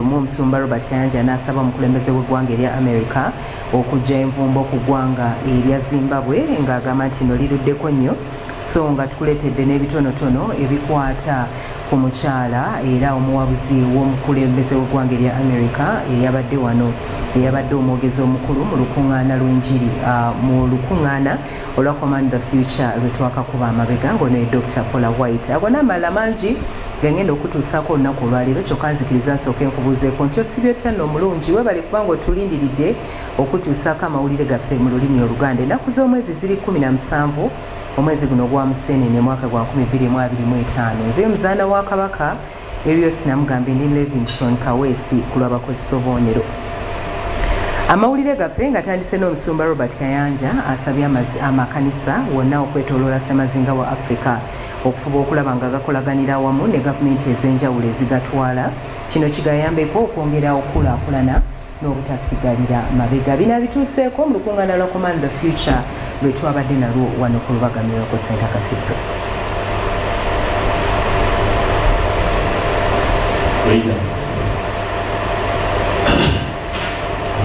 Lumu omusumba Robert Kayanja n'asaba omukulembeze w'eggwanga erya America okujja envumbo ku ggwanga erya Zimbabwe ng'agamba nti no liruddeko nnyo so nga tukuleetedde n'ebitonotono ebikwata ku mukyala era omuwabuzi w'omukulembeze w'eggwanga erya America eyabadde wano eyabadde omwogezi omukulu mu lukuŋŋaana lw'enjiri ah, mu lukuŋŋaana olwa command the future lwetwakakuba amabega ngono ye dr pola white ago n'amalala mangi gengenda okutuusaako olunaku olwaleero kyokka nzikiriza nsooka enkubuuzeeko nti osibye otya nno omulungi webale kubanga otulindiridde okutuusaako amawulire gaffe mu lulimi oluganda ennaku z'omwezi ziri 17 omwezi guno ogwa museenene mwaka gwa 2225 nze muzaana wa kabaka ebyo byose namugambye ndi levingston kaweesi ku lwabakozesa obubonero amawulire gaffe nga tandise n'omusumba robert kayanja asabye amakanisa wonna okwetoloola semazinga wa africa okufuba okulaba nga gakolaganira awamu ne gavumenti ez'enjawulo ezigatwala kino kigayambeko okwongera okukulaakulana n'obutasigalira mabega. Bino abituuseeko mu lukungaana lwa Command the Future lwe twabadde nalwo wano ku Lubaga Miracle Center Cathedral.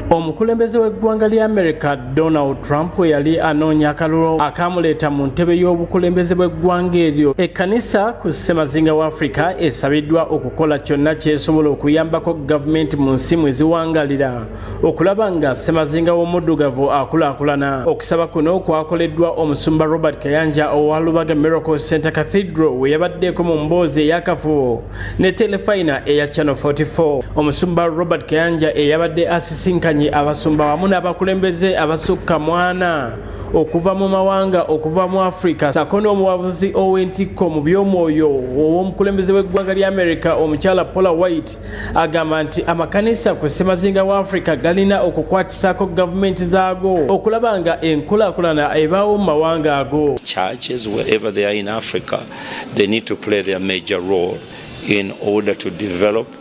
Omukulembeze w'eggwanga lya America Donald Trump we yali anoonya akalulu akaamuleeta mu ntebe y'obukulembeze bw'eggwanga eryo. Ekkanisa ku ssemazinga wa Afrika esabiddwa oku okukola kyonna kyesobola okuyambako gavumenti mu nsi mwe ziwangalira okulaba nga ssemazinga w'omuddugavu akulaakulana okusaba kuno kwakoleddwa omusumba robert kayanja owa lubaga miracle center cathedral we yabaddeeko mu mboozi eyakafubo ne telefayina eya channel 44 omusumba robert kayanja eyabadde asisinkanye abasumba wamu n'abakulembeze abasukka mwana okuva mu mawanga okuva mu afrika sako n'omuwabuzi ow'entikko mu by'omwoyo ow'omukulembeze w'eggwanga lya america omukyala paula white agamba nti amakanisa ku ssemazinga wa afrika galina okukwatisako gavumenti zaago okulaba nga enkulakulana ebaawo mu mawanga ago churches wherever they are in africa they need to play their major role in order to develop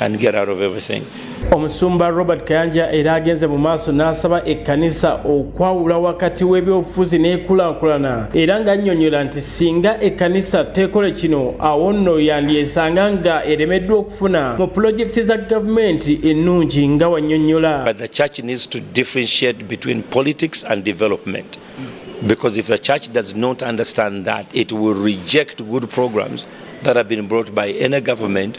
and get out of everything. Omusumba Robert Kayanja era agenze mu maaso n'asaba ekkanisa okwawula wakati w'ebyobufuzi n'ekulaakulana era ng'annyonnyola nti singa ekkanisa teekole kino awo nno yandyesanga nga eremeddwa okufuna mu pulojekiti za gavumenti ennungi nga wannyonnyola Because if the church does not understand that, it will reject good programs that have been brought by any government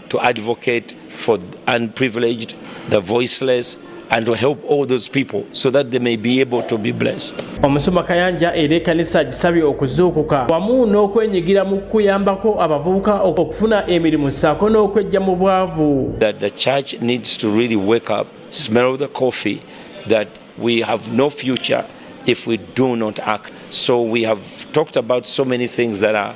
to advocate for the unprivileged, the voiceless, and to help all those people so that they may be able to be blessed. Omusumba Kayanja era ekkanisa agisabye okuzuukuka wamu n'okwenyigira mu kuyambako abavubuka okufuna emirimu ssaako n'okwejja mu bwavu. That the church needs to really wake up, smell the coffee, that we have no future if we do not act. So we have talked about so many things that are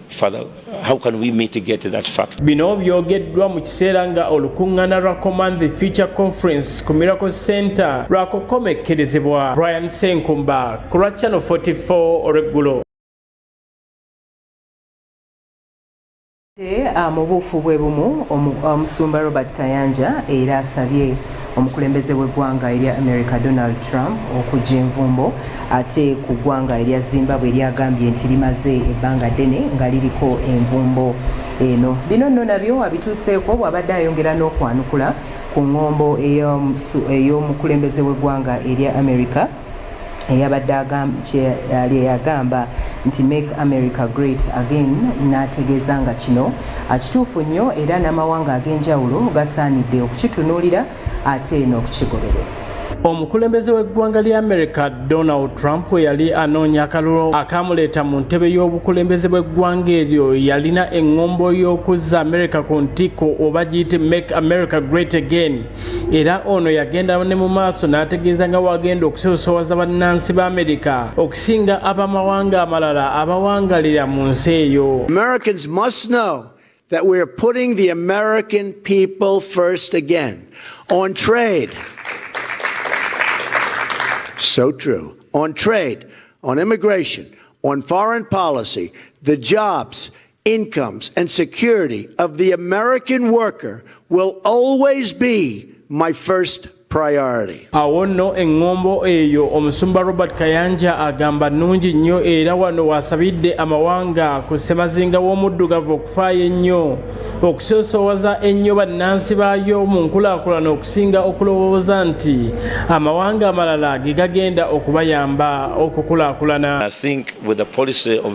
Father, how can we mitigate that fact? Bino byogeddwa mu kiseera nga olukungana lwa Command the Future Conference ku Miracle Center lwakukomekkerezebwa. Brian Senkumba ku lwa Channel 44 olweggulo. Ah, mu buufu bwe bumu omusumba Robert Kayanja era asabye Omukulembeze w'eggwanga erya America Donald Trump okujja envumbo ate ku ggwanga erya Zimbabwe lyagambye nti limaze ebbanga ddene nga liriko envumbo eno. Bino nno nabyo abituuseeko bw'abadde ayongera n'okwanukula ku ng'ombo ey'omukulembeze w'eggwanga erya America eyabadde kyeyali eyagamba nti make america great again n'ategeeza nga kino kituufu nnyo era n'amawanga ag'enjawulo gasaanidde okukitunuulira ate n'okukigoberera omukulembeze w'eggwanga lya america donald trump yali anoonya akalulu akaamuleeta mu ntebe y'obukulembeze bw'eggwanga eryo yalina eŋŋombo y'okuzza america ku ntikko oba giyite make america great again era ono yagenda ne mu maaso n'ategeeza nga wagenda okusosowaza bannansi ba amerika okusinga ab'amawanga amalala abawangalira mu nsi eyo americans must know that we're putting the american people first again on trade so true on trade on immigration on foreign policy the jobs incomes and security of the American worker will always be my first priority. Awo nno eŋŋombo eyo omusumba Robert Kayanja agamba nnungi nnyo era wano waasabidde amawanga ku ssemazinga w'omuddugavu okufaayo ennyo okusoosowaza ennyo bannansi baayo mu nkulaakulana okusinga okulowooza nti amawanga amalala ge gagenda okubayamba okukulaakulana.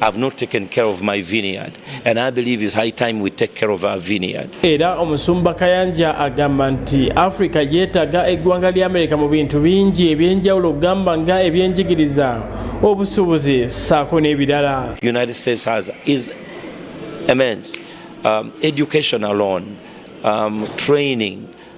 I've not taken care of my vineyard and I believe it's high time we take care of our vineyard. Era omusumba Kayanja agamba nti Africa yeetaga eggwanga lya Amerika mu bintu bingi ebyenjawulo okugamba nga ebyenjigiriza, obusuubuzi ssaako n'ebirala. United States has is immense um, education alone um, training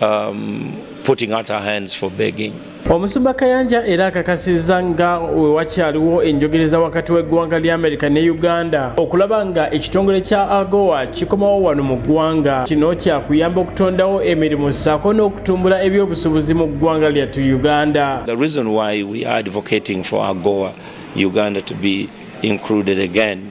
um, putting out our hands for begging. Omusumba Kayanja era akakasizza nga wewakyaliwo enjogereza wakati w'eggwanga lya Amerika ne Uganda okulaba nga ekitongole kya AGOA kikomawo wano mu ggwanga. Kino kyakuyamba okutondawo emirimu ssaako n'okutumbula ebyobusubuzi mu ggwanga lyattu Uganda. The reason why we are advocating for AGOA Uganda to be included again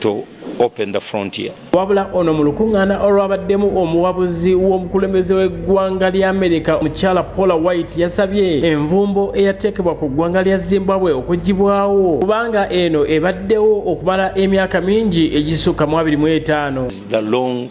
to open the frontier. Wabula ono mu lukuŋŋaana olwabaddemu omuwabuzi w'omukulembeze w'eggwanga lya Amerika omukyala Paula White yasabye envumbo eyateekebwa ku ggwanga lya Zimbabwe okugibwawo kubanga eno ebaddewo okumala emyaka mingi egisukka mu abiri mu etaano. The long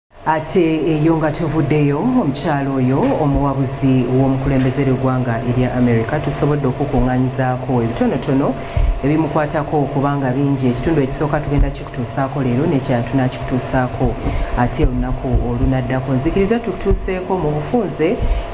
ate eyo nga tuvuddeyo omukyalo oyo omuwabuzi w'omukulembeze ly'eggwanga erya america tusobodde okukunganyizaako ebitonotono ebimukwatako kubanga bingi ekitundu ekisooka tugenda kikutuusaako leero nekyala tunakikutuusaako ate olunaku olunaddako nzikiriza tukutuuseeko mu bufunze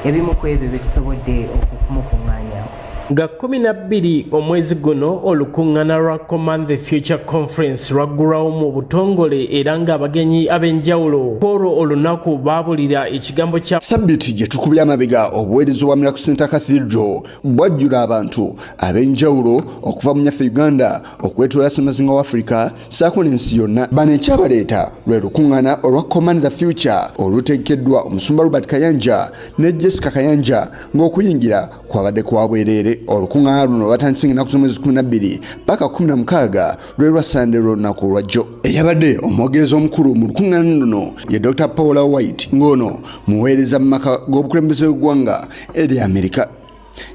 ebimu ku ebyo byetusobodde okumukunganyaako nga kkumi na bbiri omwezi guno olukuŋŋana lwa command the future conference lwaggulwawo mu butongole era ng'abagenyi ab'enjawulo kwolwo olunaku baabulira ekigambo kya sabiti gye tukubye amabega obuweereza obwa miraku center cathedral bwajjula abantu ab'enjawulo okuva mu nyaffe uganda okwetoola ssemazinga wa afirika saako n'ensi yonna bano ekyabaleeta lwe lukuŋŋana olwa command the future olutegekeddwa omusumba robert kayanja ne jessica kayanja ng'okuyingira kwabadde kwa bwereere olukuŋŋaana luno lwatandise nga ennaku z'omwezi kumi na bbiri paka kumi na mukaaga lwe lwa sande lw'olunaku olwajjo eyabadde omwogezi omukulu mu lukuŋŋaana luno ye dr paula white ng'ono muweereza mu maka g'obukulembeze bw'eggwanga eri amerika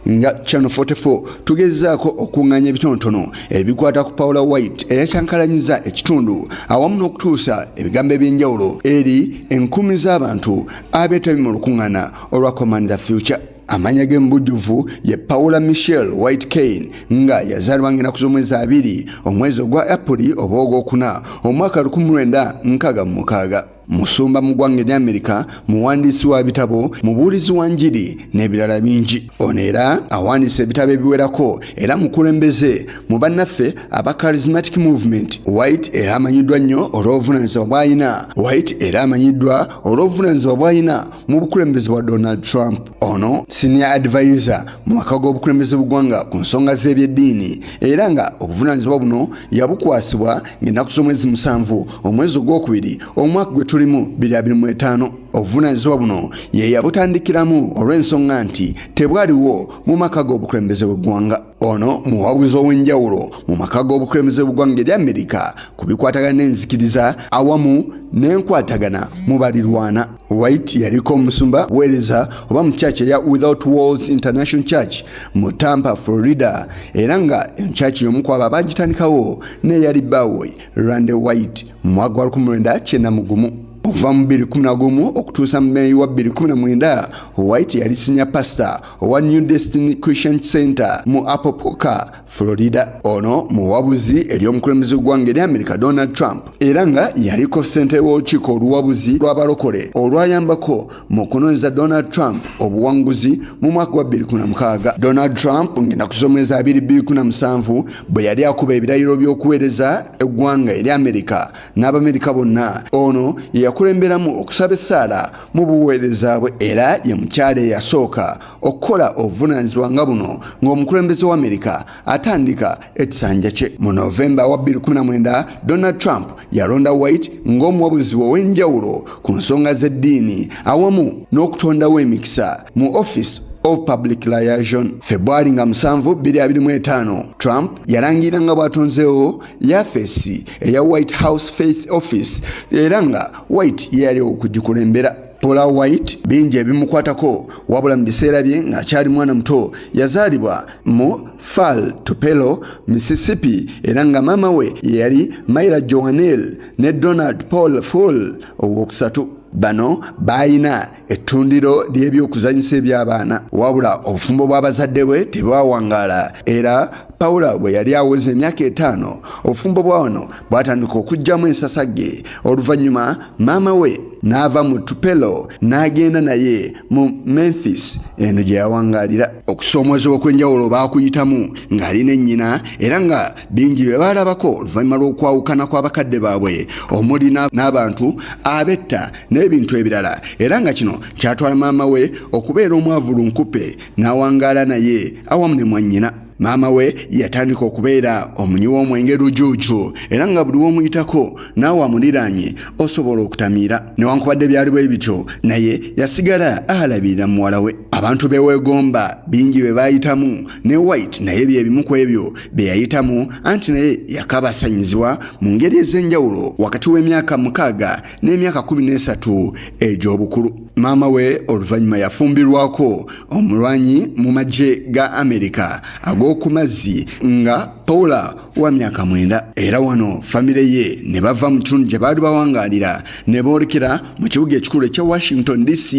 nga channel 44 tugezaako okuŋŋanya ebitonotono ebikwata ku paula white eyakyankalanyiza ekitundu awamu n'okutuusa ebigambo eby'enjawulo eri enkumi z'abantu abeetabi mu lukuŋŋaana olwa command the future amanya ge mubujjuvu ye paula michel white kane nga yazaalibwa ng'enaku z'omwezi abiri omwezi ogwa apuli oba ogwokuna omwaka 1966 musumba mu ggwanga erya amerika muwandiisi wa bitabo mubuulizi wa njiri n'ebirala bingi ono era awandiisa ebitabo ebiwerako era mukulembeze mu bannaffe aba charismatic movement white era amanyiddwa nnyo olw'obuvunaanyizibwa bw'alina white era amanyiddwa olw'obuvunaanyizibwa bw'alina mu bukulembeze bwa donald trump ono senior advisor mu maka g'obukulembeze bugwanga ku nsonga z'ebyeddiini era nga obuvunaanyizibwa buno yabukwasibwa ng'ennaku z'omwezi musanvu omwezi ogwokubiri omwaka gwe tulimu 25 obuvunaanyizibwa buno ye yabutandikiramu olw'ensonga nti tebwaliwo mu maka g'obukulembeze bw'eggwanga Ono muwabuzi ow'enjawulo mu maka g'obukulembeze bw'eggwanga erya Amerika ku bikwatagana n'enzikiriza awamu n'enkwatagana mu balirwana. White yaliko omusumba weereza oba mu kyaki eya Without Walls International Church mu Tampa, Florida era nga enkyaki y'omu kwabo abaagitandikawo n'eyali bbaawe Rande White mu mwaka gwa 1991. okuva mu 2011 okutuusa mu meeyi wa 2019 white yali sinya pasita owa new destiny christian center mu apopoka florida ono muwabuzi eri omukulembeze gw'eggwanga eri amerika donald trump era nga yaliko ssente w'olukiiko oluwabuzi lw'abalokole olwayambako mu kunoonyeza donald trump obuwanguzi mu mwaka gwa 26 donald trump ng'enaku z'omwezi 2217 bwe yali akuba ebirayiro by'okuweereza eggwanga eri amerika n'abamerika bonna ono yeyakulemberamu okusaba essaala mu buweereza bwe era ye mukyala eyasooka okukola obuvunaanyizibwa nga buno ng'omukulembeze wa amerika atandika ekisanja kye mu novemba wa 2019 donald trump yalonda white ng'omuwabuzi ow'enjawulo ku nsonga z'eddiini awamu n'okutondawo emikisa mu office of public liaison febwali nga 7225 trump yalangira nga bw'atonzeewo yafeesi eya white house faith office era nga white ye yali okugikulembera Paula White bingi ebimukwatako wabula mu biseera bye ng'akyali mwana muto yazaalibwa mu Fall Tupelo, Mississippi era nga maama we yeyali Myra Joanel ne Donald Paul Full ow'okusatu. Bano baalina ettundiro ly'ebyokuzanyisa eby'abaana wabula obufumbo bw'abazadde bwe tebwawangaala era pawulo bwe yali aweza emyaka etaano obufumbo bwa wano bwatandika okugyamu ensasagge oluvannyuma maama we n'ava mu tupelo n'agenda naye mu memphis eno gye yawangaalira okusoomoozebwa okw'enjawulo baakuyitamu ng'ali ne nnyina era nga bingi bye baalabako oluvannyuma lw'okwawukana kw'abakadde baabwe omuli n'abantu abetta n'ebintu ebirala era nga kino kyatwala maama we okubeera omwavu lunkupe n'awangaala naye awamu ne mwannyina maama we yatandika okubeera omunywi w'omwenge lujuuju era nga buli w'omuyitako naawe amuliraanye osobola okutamiira newankubadde byali bwe bityo naye yasigala alabirira muwala we abantu beweegomba bingi bye baayitamu ne white naye bye bimu ku ebyo bye yayitamu anti naye yakabasanyiziwa mu ngeri ez'enjawulo wakati w'emyaka mukaaga n'emyaka kumi n'esatu egy'obukulu maama we oluvannyuma yafumbirwako omulwanyi mu magye ga amerika ag'oku mazzi nga paula wa myaka mwenda era wano famire ye ne bava mu kitundu gye baali bawangaalira ne boolekera mu kibuga ekikulu ekya washington dc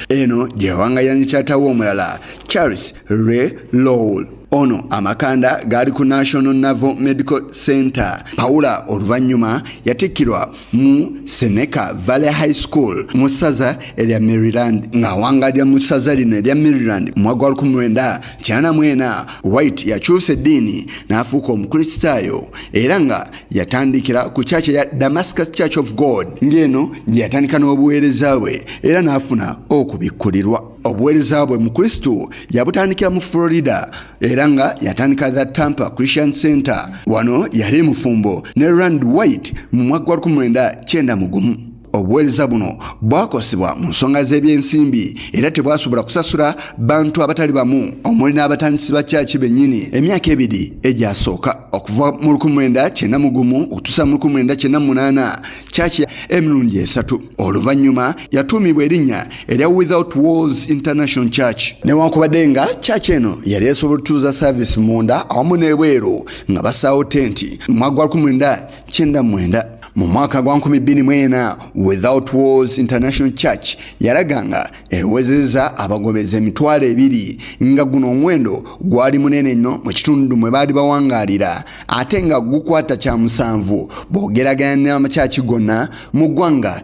eno gye yawangaalira ne kyatawo omulala charles re lowell ono amakanda gaali ku national naval medical center paula oluvannyuma yatikkirwa mu Seneca Valley High School mu ssaza erya Maryland ng'awangalira mu ssaza lino erya Maryland mu mwaka wa lukumi lwenda kyana mwena White yakyusa eddiini n'afuuka omukristaayo era nga yatandikira ku kyaki ya Damascus Church of God ng'eno gye yatandika n'obuweereza bwe era n'afuna okubikkulirwa obuweereza bwe mu kristo yabutandikira mu florida era nga yatandika the tampa christian center wano yali mufumbo ne rand white mu mwaka gwa 19 mu gumu obuweereza buno bwakosebwa mu nsonga z'ebyensimbi era tebwasobola kusasula bantu abatali bamu omuli n'abatandisi ba kyaki bennyini emyaka ebiri egyasooka okuva mu 19 mu gumu okutuusa mu 1998 kyaki emirundi esatu oluvannyuma yatuumibwa erinnya erya without walls international church newankubadde nga church eno yali esobola otutuuza service munda awamu n'ebweru nga basaawo tenti mu mwaka gwa 1999 mu mwaka gwa 24 without walls international church yalaga nga ewezeza abagobeza emitwalo ebiri nga guno omuwendo gwali munene nnyo mu kitundu mwe baali bawangaalira ate nga gukwata kya musanvu boogeraganya n'amakyaki gonna mu ggwanga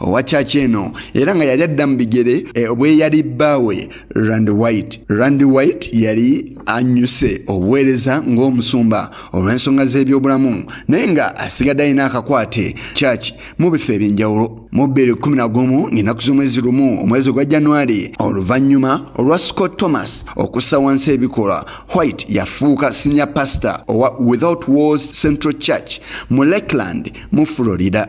owa kyaki eno era nga yali adda mu bigere eh, obweyali bbaawe rand white rand white yali anyuse obuweereza ng'omusumba olw'ensonga z'ebyobulamu naye nga asigadde alina akakwate kyaki mu bifo eby'enjawulo mu bbiri kumi na gumu ng'enaku z'omwezi lumu omwezi ogwa januari oluvannyuma olwa scott thomas okussa wansi ebikolwa white yafuuka senior pastor owa without wars central church mu lakeland mu florida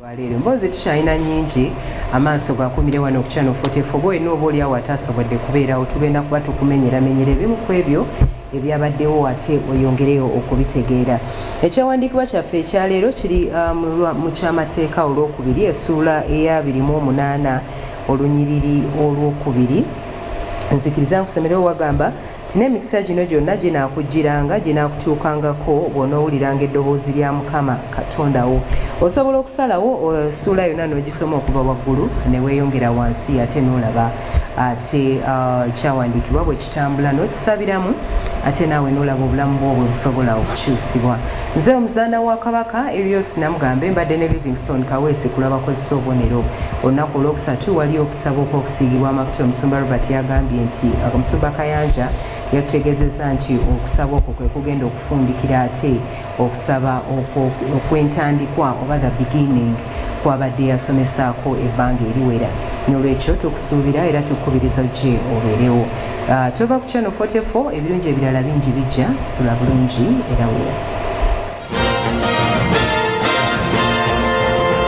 lwaleero emboozi tukyalina nyingi amaaso gakumire wano ku channel 44 oba olina oba oliawo ataasobodde kubeerawo tugenda kuba tukumenyeramenyera ebimu ku ebyo ebyabaddewo ate oyongereyo okubitegeera ekyawandiikibwa kyaffe ekyaleero kiri um, mu kyamateeka olwokubiri esuula eya 28 olunyiriri olwokubiri nzikiriza nkusomerewo wagamba Nti n'emikisa gino gyonna ginaakujjiranga, ginaakutuukangako bw'onoowuliranga eddoboozi lya Mukama Katonda wo. Osobola okusalawo essuula eh, yonna n'ogisoma okuva waggulu ne weeyongera wansi ate n'olaba ate ah, ekyawandiikibwa bwe kitambula n'okisabiramu ate naawe nolaba obulamu bwo bwebusobola okukyusibwa nze omuzaana wa kabaka erios namugambe mbadde ne livingston kaweesi kulaba kwessa obubonero olunaku olwokusatu waliyo Saba okw'okusiigibwa amafuta omusumba Robert yagambye nti omusumba Kayanja yatutegeezezza nti okusaba okwo kwe kugenda okufundikira ate okusaba okw'entandikwa oba the beginning kwabadde yasomesaako ebbanga eriwera nolwekyo tukusuubira era tukukubiriza ojje obeerewo ah, tova ku channel 44 ebirungi ebirala bingi bijja sula bulungi era wera